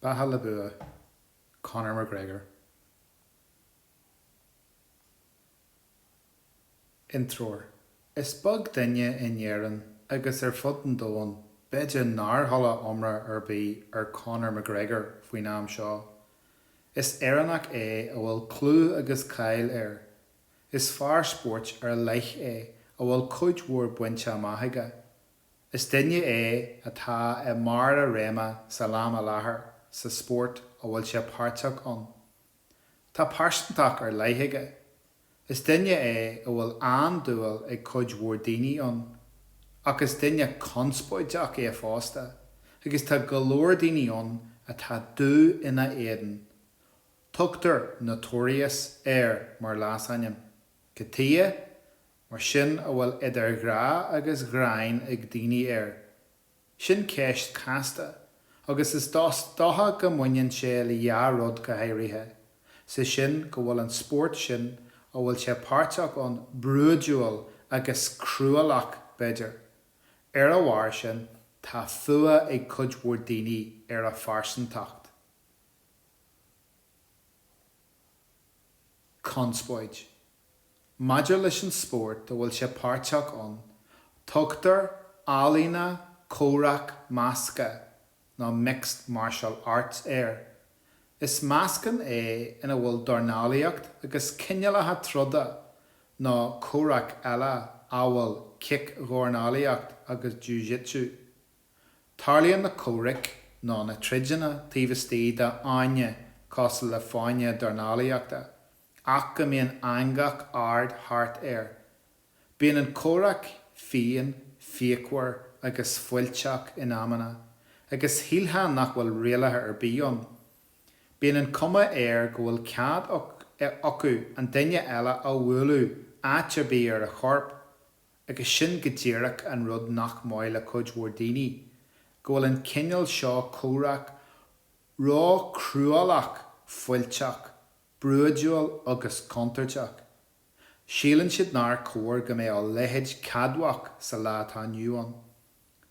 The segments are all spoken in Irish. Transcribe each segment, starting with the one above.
Beatha le Bua, Conor McGregor, Intreoir, Is beag duine in Éirinn agus ar fud an domhain b'fhéidir nár chuala iomrá ar bith ar Conor McGregor faoin am seo. Is Éireannach é a bhfuil clú agus cáil air. Is fear spóirt ar leith é a bhfuil cuid mhór bainte amach aige. Is duine é atá i mbarr a réime san am i láthair sa spórt a bhfuil sé páirteach ann. Tá pearsantacht ar leith aige. Is duine é a bhfuil an-dúil ag cuid mhór daoine ann. Ach is duine conspóideach é fosta agus tá go leor daoine ann atá dubh ina éadan. Tugtar Notorious air mar leasainm. Cad chuige? mar sin, a bhfuil idir ghrá agus ghráin ag daoine air. Sin ceist casta, agus is dócha go mbaineann sé le dhá rud go háirithe, 'sé sin go bhfuil an spórt sin a bhfuil sé páirteach ann brúidiúil agus cruálach, b'fhéidir. Ar a bharr sin, tá fuath ag cuid mhór daoine ar a phearsantacht. Conspóid. Maidir leis an spórt a bhfuil sé páirteach ann, tugtar ealaíona comhraic measctha nó mixed martial arts air. Is meascán é ina bhfuil dornálaíocht agus cineálacha troda nó comhraic eile amhail cic-dhornálaíocht agus jú-jitsu. Tarlaíonn na comhraic nó na troideanna taobh istigh d'fháinne cosúil le fáinne dornálaíochta. ach go mbíonn eangach ard thart air. Bíonn an comhrac fiáin, fíochmhar agus fuilteach in amanna, agus shílfeá nach bhfuil rialaithe ar bith ann. Bíonn an cuma air go bhfuil cead acu an duine eile a bhualadh áit ar bith ar a chorp, agus sin go díreach an rud nach maith le cuid mhór daoine, go bhfuil an cineál seo comhraic róchruálach fuilteach brúidiúil agus contúirteach. Síleann siad nár chóir go mbeadh a leithéid ceadmhach sa lá atá inniu ann.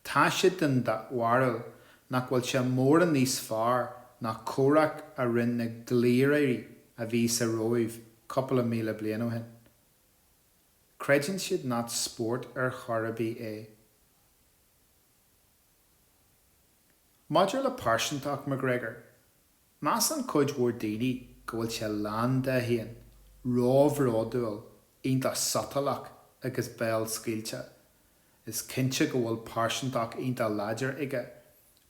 Tá siad den bharúil nach bhfuil sé mórán níos fearr ná an comhrac a rinne na gliairí a bhí sa Róimh cúpla míle bliain ó shin. Creideann siad nach spórt ar chor ar bith é. Maidir le pearsantacht McGregor, Measann cuid mhór daoine go bhfuil sé lán de fhéin, róbhródúil, iontach sotalach agus béal scaoilte. Is cinnte go bhfuil pearsantacht iontach láidir aige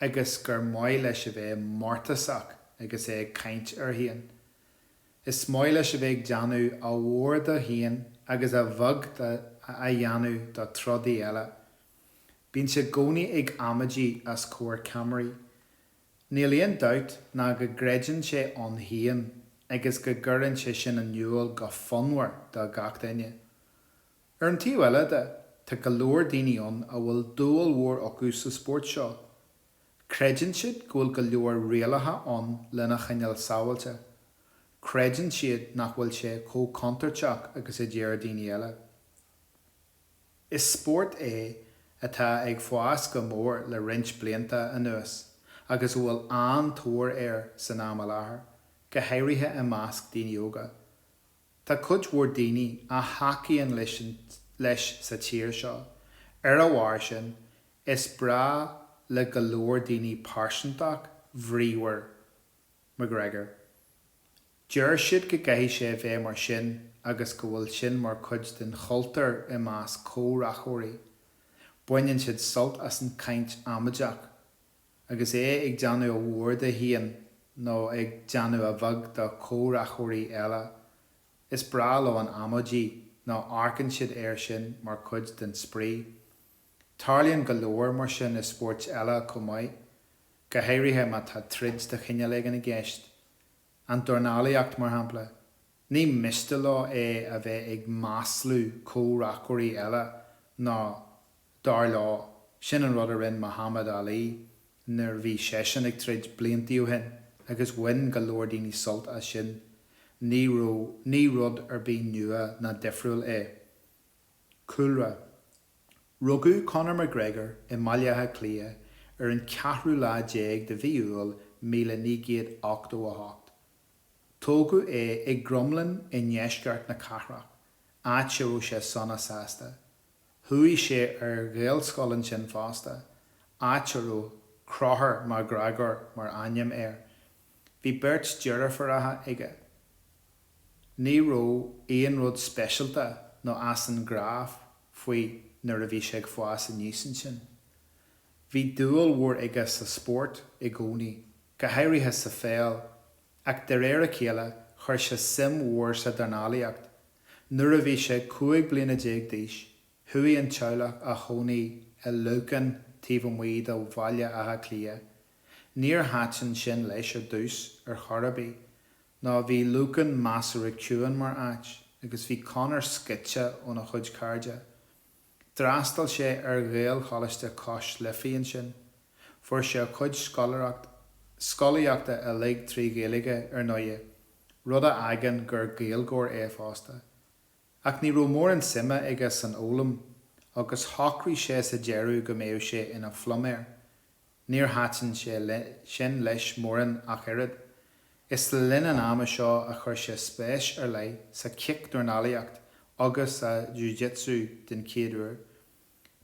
agus gur maith leis a bheith mórtasach agus é ag caint air fhéin. Is maith leis a bheith ag déanamh a mhór do fhéin agus a bheag a dhéanamh do trodaí eile. Bíonn sé i gcónaí ag amaidí os comhair ceamaraí. Níl aon dabht ná go gcreideann sé ann féin agus go gcuireann sé sin in iúl go fonnmhar do gach duine. Ar an taobh eile de, tá go leor daoine ann a bhfuil dúil mhór acu sa spórt seo. Creideann siad go bhfuil go leor rialaithe ann lena choinneáil sábháilte. Creideann siad nach bhfuil sé chomh contúirteach agus a deir daoine eile. Is spórt é atá ag fás go mór le roinnt blianta anuas agus a bhfuil an-tóir air san am i láthair, go háirithe i measc daoine óga. Tá cuid mhór daoine a thacaíonn leis sa tír seo, ar a bharr sin, is breá le go leor daoine pearsantacht bhríomhar McGregor. Deir siad go gcaithfidh sé a bheith mar sin agus go bhfuil sin mar chuid den chultúr i measc comhraiceoirí. Baineann siad sult as an chaint amaideach. Agus é ag déanamh a mhór de fhéin nó ag déanamh a bheag de chomhraiceoirí eile, is breá leo an amaidí nó amharcann siad air sin mar chuid den spraoi. Tarlaíonn go leor mar sin i spóirt eile chomh maith, go háirithe má tá troid de chineál éigin i gceist. An dornálaíocht, mar shampla. Ní miste leo é a bheith ag maslú comhraiceoirí eile nó, dar leo, sin an rud a rinne Muhammad Ali nuair bhí seisean ag troid blianta ó shin agus bhain go leor daoine sult as sin. Ní rud ar bith nua ná difriúil é. Cúlra, Rugadh Conor McGregor i mBaile Átha Cliath ar an ceathrú lá déag de mhí Iúil míle naoi gcéad ochtó a hocht. Tógadh é i gCromghlinn i ndeisceart na cathrach, áit a raibh sé sona sásta. Chuaigh sé ar Ghaelscoil ansin fosta, áit a raibh Conchúr Mac Gréagóir mar ainm air. Bhí beirt deirfiúracha aige. Ní raibh aon rud speisialta nó as an ghnáth faoi nuair a bhí sé ag fás aníos ansin. Bhí dúil mhór aige sa spórt i gcónaí, go háirithe sa pheil, ach de réir a chéile chuir sé suim mhór sa dornálaíocht. Nuair a bhí sé 15 bliana d'aois, chuaigh an teaghlach a chónaí i Lucan taobh amuigh de Bhaile Átha Cliath Níor thaitin sin leis ar dtús ar chor ar bith, nó bhí Lucan measartha ciúin mar áit, agus bhí Conor scoite óna chuid cairde. D'fhreastail sé ar Ghaelcholáiste Cois Life ansin. Fuair sé a chuid scolaíochta uilig trí Ghaeilge, ar ndóighe, rud a fhágann gur Gaeilgeoir é fosta. Ach ní raibh mórán suime aige san fhoghlaim, agus shocraigh sé sa deireadh go mbeadh sé ina phluiméir. Níor thaitin sé sin leis mórán ach oiread. Is le linn an ama seo a chuir sé spéis ar leith sa chic-dornálaíocht agus sa jiu-jitsu den chéad uair.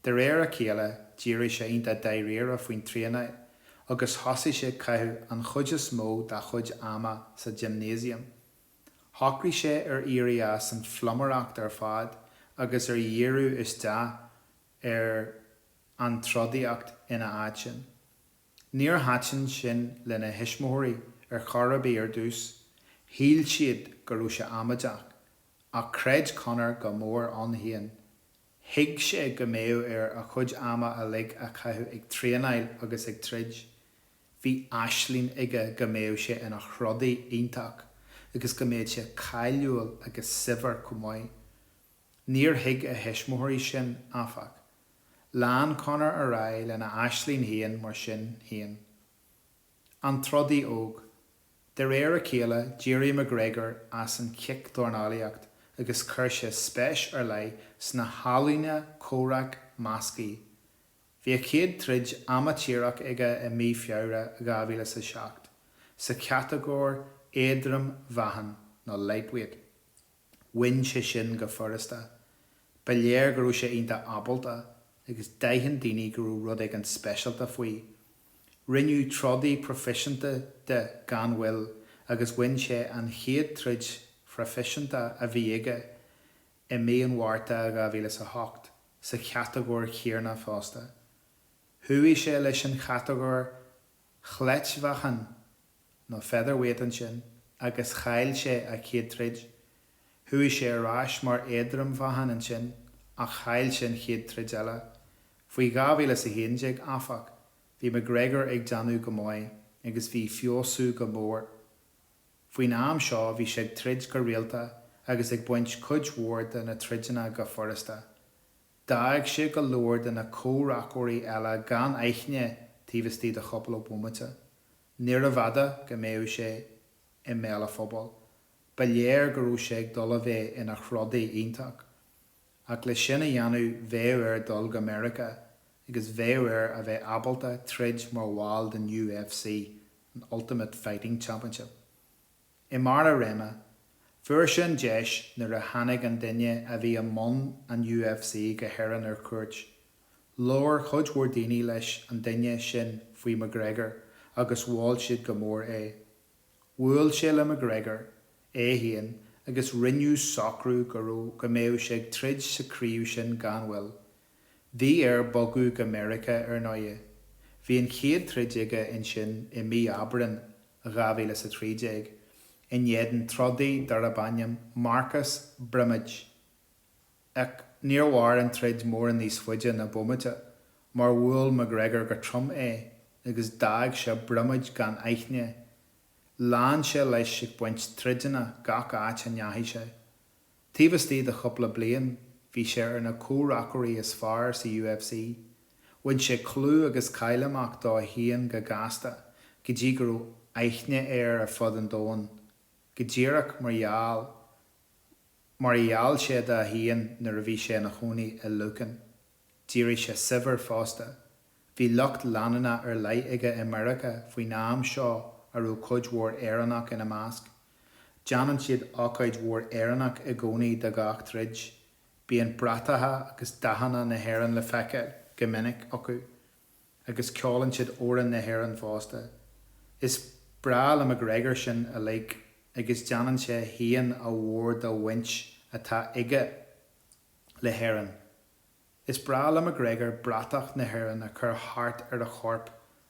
De réir a chéile, d'éirigh sé iontach dáiríre faoin traenáil agus thosaigh sé caitheamh an chuid is mó dá chuid ama sa gimnéasiam. Shocraigh sé ar éirí as an phluiméireacht ar fad agus ar dhíriú isteach ar an trodaíocht ina áit sin. Níor thaitin sin lena thuismitheoirí ar chor ar bith ar dtús, shíl siad go raibh sé amaideach, ach chreid Conor go mór ann féin. Thuig sé go mbeadh air a chuid ama uilig a chaitheamh ag traenáil agus ag troid. Bhí aisling aige go mbeadh sé ina throdaí iontach agus go mbeadh sé cáiliúil agus saibhir chomh maith. Níor thuig a thuismitheoirí sin, áfach. Lean Conor ar aghaidh lena aisling féin mar sin féin. An trodaí óg. De réir a chéile, d'éirigh McGregor as an chic-dornálaíocht agus chuir sé spéis ar leith sna healaíona comhraic measctha. Bhí a chéad troid amaitéarach aige i mí Feabhra 2007, sa chatagóir éadrom mheáchain, nó lightweight. Bhain sé sin go furasta. Ba léir go raibh sé iontach ábalta, agus d'aithin daoine go raibh rud éigin speisialta faoi. Rinneadh trodaí proifisiúnta de gan mhoill, agus bhain sé an chéad troid phroifisiúnta a bhí aige i mí an Mhárta 2008, sa chatagóir chéanna fosta. Chuaigh sé leis an chatagóir chleitmheáchan nó featherweight ansin agus chaill sé a chéad troid. Chuaigh sé ar ais mar éadrom-mheáchan ansin ach chaill sé an chéad troid eile. Faoi dhá mhíle is a haon déag, áfach, bhí McGregor ag déanamh go maith agus ag feabhsú go mór. Faoin am seo bhí sé ag troid go rialta agus ag baint cuid mhór de na troideanna go furasta. D'fhág sé go leor de na comhraiceoirí eile gan aithne taobh istigh de chúpla bhomaite. Níorbh fhada go mbeadh sé i mbéal an phobail. Ba léir go raibh sé ag dul a bheith ina throdaí iontach. Ach le sin a dhéanamh bheadh air dul go Meiriceá agus bheadh air a bheith ábalta troid mar bhall den UFC, an Ultimate Fighting Championship. I mbarr a réime, fuair sé an deis nuair a tháinig an duine a bhí i mbun an UFC go hÉirinn ar cuairt. Labhair cuid mhór daoine leis an duine sin faoi McGregor agus mhol siad go mór é. Bhuail sé le McGregor, é féin, agus rinneadh socrú go mbeadh sé ag troid sa chraobh sin gan mhoill. Bhí air bogadh go Meiriceá, ar ndóighe. Bhí an chéad troid aige ansin i Mí Aibreán 2000 is 13, in éadan trodaí darb ainm Marcus Brimage. Ach níor mhair an troid mórán níos faide ná bomaite, mar bhuail McGregor go trom é agus d'fhág seo Brimage gan aithne. Lean sé leis ag baint troideanna gach áit a ndeachaigh sé. Taobh istigh de chúpla bliain bhí sé ar na comhraiceoirí is fearr sa UFC. Bhain sé clú agus cáil amach dó féin go gasta, go dtí go raibh aithne air ar fud an domhain, go díreach mar gheall mar a gheall sé dó féin nuair a bhí sé ina chónaí i Lucan. D'éirigh sé saibhir fosta. Bhí lucht leanúna ar leith aige i Meiriceá faoin am seo a raibh cuid mhór Éireannach ina measc. Déanann siad ocáid mhór Éireannach i gcónaí de gach troid. Bíonn bratacha agus dathanna na hÉireann le feiceáil go minic acu. Agus ceolann siad amhráin na hÉireann fosta. Is breá le McGregor sin uilig agus déanann sé féin a mhór den bhaint atá aige le hÉirinn. Is breá le McGregor bratach na hÉireann a chur thart ar a chorp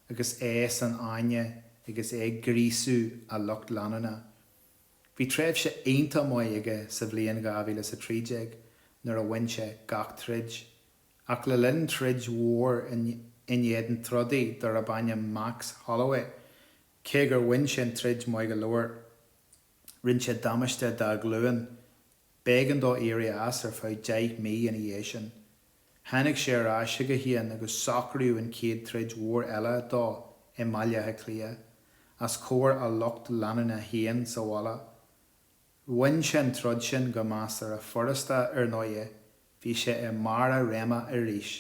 agus é san fháinne agus é ag gríosú a lucht leanúna. Bhí tréimhse iontach maith aige sa bhliain 2013 nuair a bhain sé gach troid, ach le linn troid mhór in éadan trodaí darb ainm Max Holloway, cé gur bhain sé an troid maith go leor, rinne sé damáiste dá ghlúin. B'éigean dó éirí as ar feadh deich mí ina dhiaidh sin. Tháinig sé ar ais chuige féin agus socraíodh an chéad troid mhór eile dó i mBaile Átha Cliath, os comhair a lucht leanúna féin sa bhaile. Bhain sé an troid sin go measartha furasta, ar ndóighe, bhí sé i mbarr a réime arís.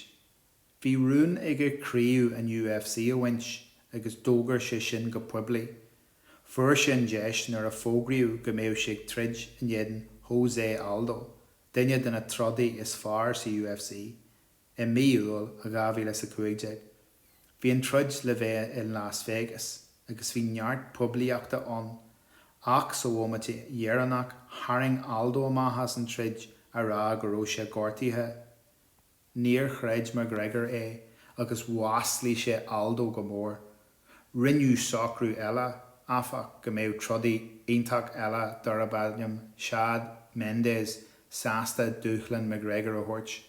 Bhí rún aige crios an UFC a bhaint agus d'fhógair sé sin go poiblí. Fuair sé an deis nuair a fógraíodh go mbeadh sé ag troid in éadan Jose Aldo, duine de na trodaithe is fearr sa UFC, i mí Iúil 2000 is 15. Bhí an troid le bheith in Las Vegas agus bhí neart poiblíochta ann ach sa bhomaite dheireanach tharraing Aldo amach as an troid a rá go raibh sé gortaithe. Níor chreid McGregor é agus mhaslaigh sé Aldo go mór. Rinneadh socrú eile, áfach, go mbeadh trodaí iontach eile darb ainm Chad Mendes sásta dúshlán McGregor a thabhairt.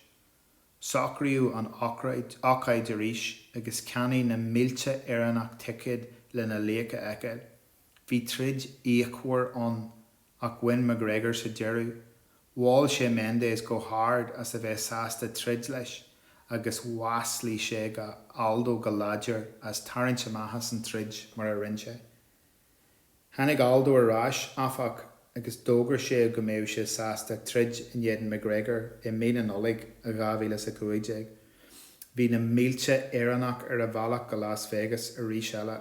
Socraíodh an ócáid arís agus cheannaigh na mílte Éireannach ticéad lena laoch a fheiceáil. Bhí troid fhíochmhar ann ach bhain McGregor sa deireadh. Mhol sé Mendes go hard as a bheith sásta troid leis agus mhaslaigh sé Aldo go láidir as tarraingt amach as an troid mar a rinne sé. Tháinig Aldo ar ais, áfach, agus d'fhógair sé go mbeadh sé sásta troid in éadan McGregor i mí na Nollag 2015. Bhí na mílte Éireannach ar a bhealach go Las Vegas arís eile.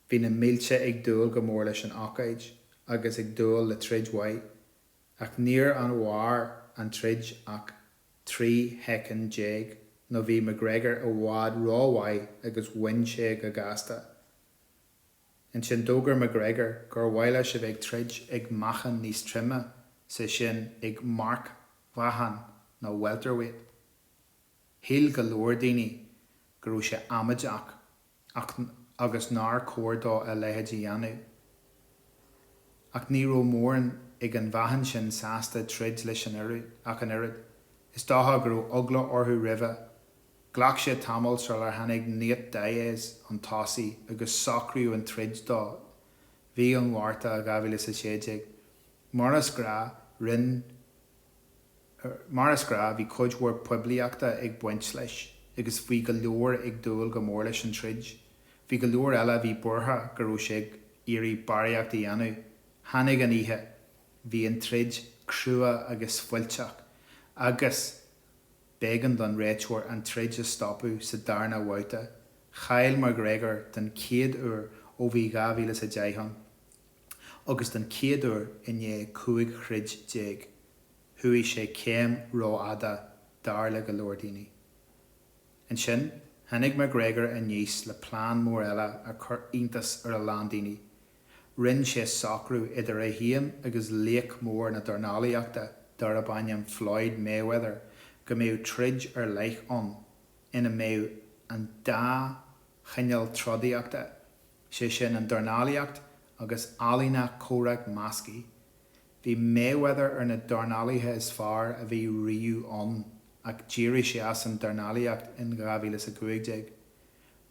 Bhí na mílte ag dúil go mór leis an ócáid agus ag dúil le troid mhaith, ach níor fhan mhair an troid ach 13 shoicind nó bhí McGregor i bhfad ró-mhaith agus bhain sé go gasta. Ansin d'fhógair McGregor gur mhaith leis a bheith ag troid ag meáchan níos troime, is é sin ag marcmheáchan nó welterweight. Shíl go leor daoine go raibh sé amaideach. agus nár chóir dó a leithéid a dhéanamh. Ach ní raibh mórán ag an mheáchan sin sásta troid leis an oireadh, ach an oiread. Is dócha go raibh eagla orthu roimhe. Ghlac sé tamall sular tháinig Nate Diaz chun tosaigh, agus socraíodh an troid do mhí an Mhárta 2016. Mar is gnách, rinn. Mar is gnách, bhí cuid mhór poiblíochta ag baint leis, agus bhí go leor ag dúil go mór leis an troid. Bhí go leor eile a bhí buartha go raibh sé ag iarraidh barraíocht a dhéanamh. Tháinig an oíche. Bhí an troid crua agus fuilteach, agus b'éigean don réiteoir an troid a stopadh sa darna bhabhta. Chaill McGregor den chéad uair ó bhí 2010 ann, agus don chéad uair i ndiaidh 15 throid déag chuaigh sé céim rófhada dar le go leor daoine. Ansin tháinig McGregor aníos le plean mór eile a chuir iontas ar a lán daoine, rinne sé socrú idir é féin agus laoch mór na dornálaíochta darab ainm Floyd Mayweather go mbeadh troid ar leith ann ina mbeadh an dá chineál trodaíochta sé sin an dornálaíocht agus ealaíona comhraic measctha. Bhí Mayweather ar na dornálaithe is fearr a bhí riamh ann ach d'éirigh sé as an dornálaíocht in 2015.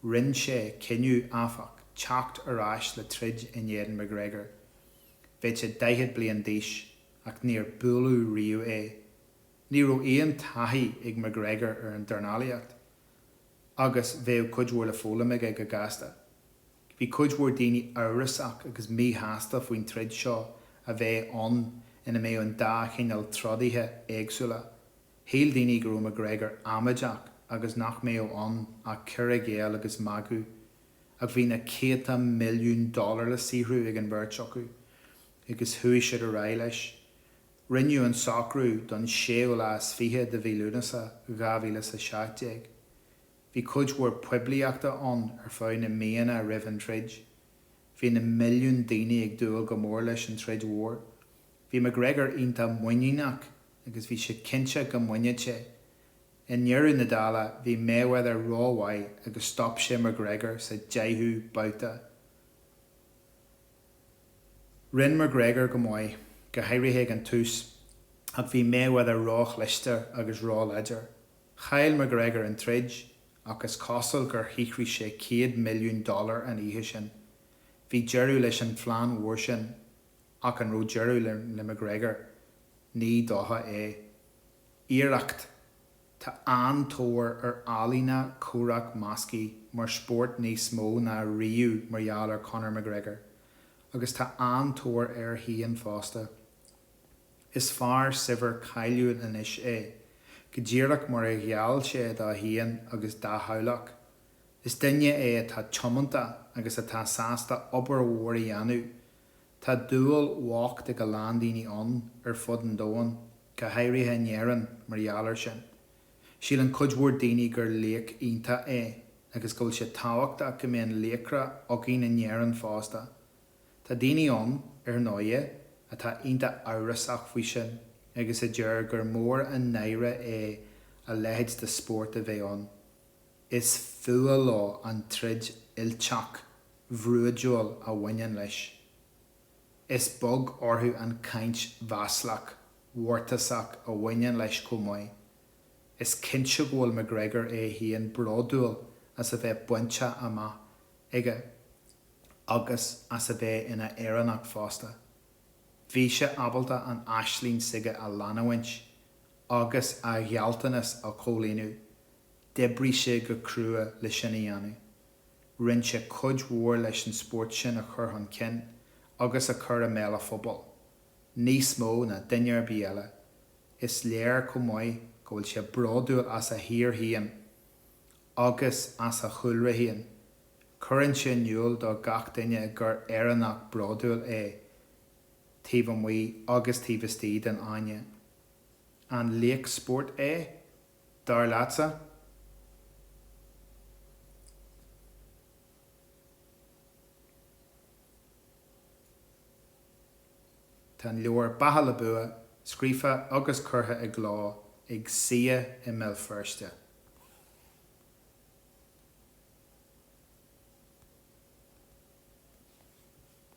Rinne sé cinneadh, áfach, teacht ar ais le troid in éadan McGregor. Bheadh sé 40 bliain d'aois ach níor buaileadh riamh é. Ní raibh aon taithí ag McGregor ar an dornálaíocht. agus bheadh cuid mhór le foghlaim aige go gasta. Bhí cuid mhór daoine amhrasach agus míshásta faoin troid seo a bheith ann ina mbeadh an dá chineál trodaithe éagsúla. Shíl daoine go raibh McGregor amaideach agus nach mbeadh ann ach cur i gcéill agus magadh. Ach bhí na céadta milliún dollar le saothrú ag an bheirt acu agus chuaigh siad ar aghaidh leis. Rinneadh an socrú don séú lá is fiche de mhí Lúnasa 2017. Bhí cuid mhór poiblíochta ann ar feadh na míonna roimh an troid. Bhí na milliúin daoine ag dúil go mór leis an troid mhór. Bhí McGregor iontach muiníneach agus bhí sé cinnte go mbainfeadh sé. I ndeireadh na dála, bhí Mayweather rómhaith agus stop sé McGregor sa deichiú babhta. Rinne McGregor go maith, go háirithe ag an tús, ach bhí Mayweather róchliste agus róláidir. Chaill McGregor an troid, ach is cosúil gur shaothraigh sé 100 milliún dollar an oíche sin. Bhí deireadh leis an phlean mhór sin, ach an raibh deireadh le McGregor? Ní dócha é. Iarracht Tá an-tóir ar ealaíona comhraic measctha mar spórt níos mó ná riamh mar gheall ar Conor McGregor, agus tá an-tóir air féin fosta. Is fear saibhir cáiliúil anois é, go díreach mar a gheall sé dó féin agus dá theaghlach. Is duine é atá tiomanta agus atá sásta obair mhór a dhéanamh. Tá dúil bhocht ag go leor daoine ann ar fud an domhain. go háirithe in Éirinn, mar gheall air sin. Síleann cuid mhór daoine gur laoch iontach é agus go bhfuil sé tábhachtach go mbeadh laochra againn in Éirinn fosta. Tá daoine ann, ar ndóighe, atá iontach amhrasach faoi sin agus a deir gur mór an náire é a leithéid de spórt a bheith ann. Is fuath leo an troid fhuilteach, bhrúidiúil a bhaineann leis. Is beag orthu an chaint mhaslach, mhórtasach a bhaineann leis chomh maith. Is cinnte go bhfuil McGregor é féin bródúil as a bhfuil bainte amach aige agus as a bheith ina Éireannach fosta. Bhí sé ábalta an aisling s'aige a leanúint agus a ghealltanas a chomhlíonadh, d'oibrigh sé go crua le sin a dhéanamh. Rinne sé cuid mhór leis an spórt sin a chur chun cinn agus a chur i mbéal an phobail, níos mó ná duine ar bith eile. Is léir chomh maith go bhfuil sé bródúil as a thír féin agus as a chúlra féin. Cuireann sé in iúl do gach duine gur Éireannach bródúil é, taobh amuigh agus taobh istigh den fháinne. An laoch spóirt é? dar leatsa? Tá an leabhar Beatha le Bua scríofa agus curtha i gcló ag CCEA i mBéal Feirste.